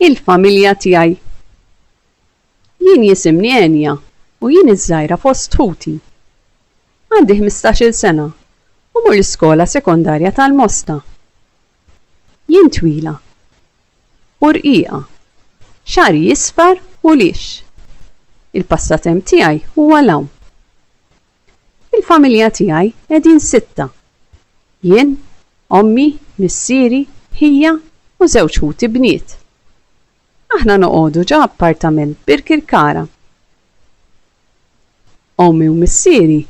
Il-familja tiegħi. Jien jisimni Enya u jien iż-żgħira fost ħuti. Għandi ħmistax-il sena u mmur l-iskola sekondarja tal-Mosta. Jien twila u rqiqa, xagħri jisfar u lix. Il-passatemp tiegħi huwa l-għawm. Fil-familja tiegħi qegħdin sitta. Jien, ommi, missieri, ħija u żewġ ħuti bniet. Aħna noqogħdu ġo appartament f'Birkirkara. Ommi u missieri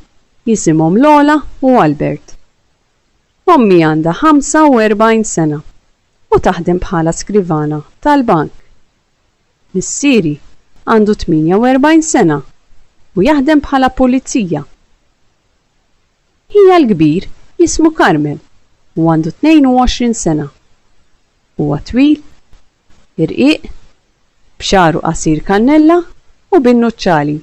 jisimhom Lola u Albert. Ommi għandha 45 sena u taħdem bħala skrivana tal-bank. Missieri għandu 48 sena u jaħdem bħala pulizija. Ħija l-kbir jismu Carmel u għandu 22 sena. Huwa twil, irqiq, b'xagħru qasir kannella u bin-nuċċali.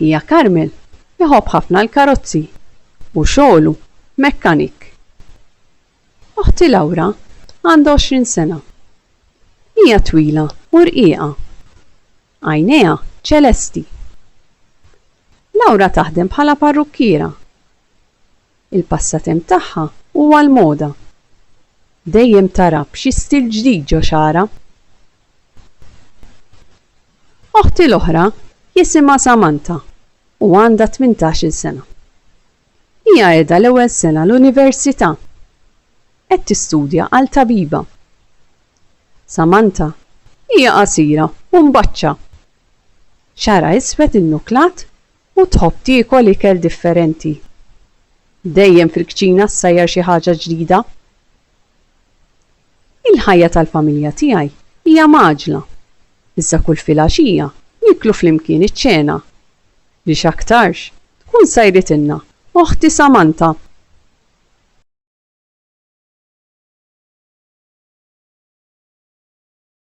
Ħija Carmel iħobb ħafna l-karozzi u xogħlu mekkanik. Oħti Laura għandha għoxrin sena. Hija twila u rqiqa. Għajnejha ċelesti. Laura taħdem bħala parrukkiera. Il-passatemp tagħha huwa l-moda. Dejjem tara b'xi stil ġdid ġo xagħarha. Oħti l-oħra jisimha Samantha u għandha tmintax-il sena. Hija qiegħda l-ewwel sena l-università. Qed tistudja għal tabiba. Samantha, Hija qasira u mbaċċa. Xagħarha iswed innuklat u tħobb tiekol ikel differenti. Dejjem fil-kċina ssajjar xi ħaġa ġdida. Il-ħajja tal-familja tiegħi hija mgħaġġla, iżda kull filgħaxija nieklu flimkien iċ-ċena li x'aktarx tkun sajritilna oħti Samantha.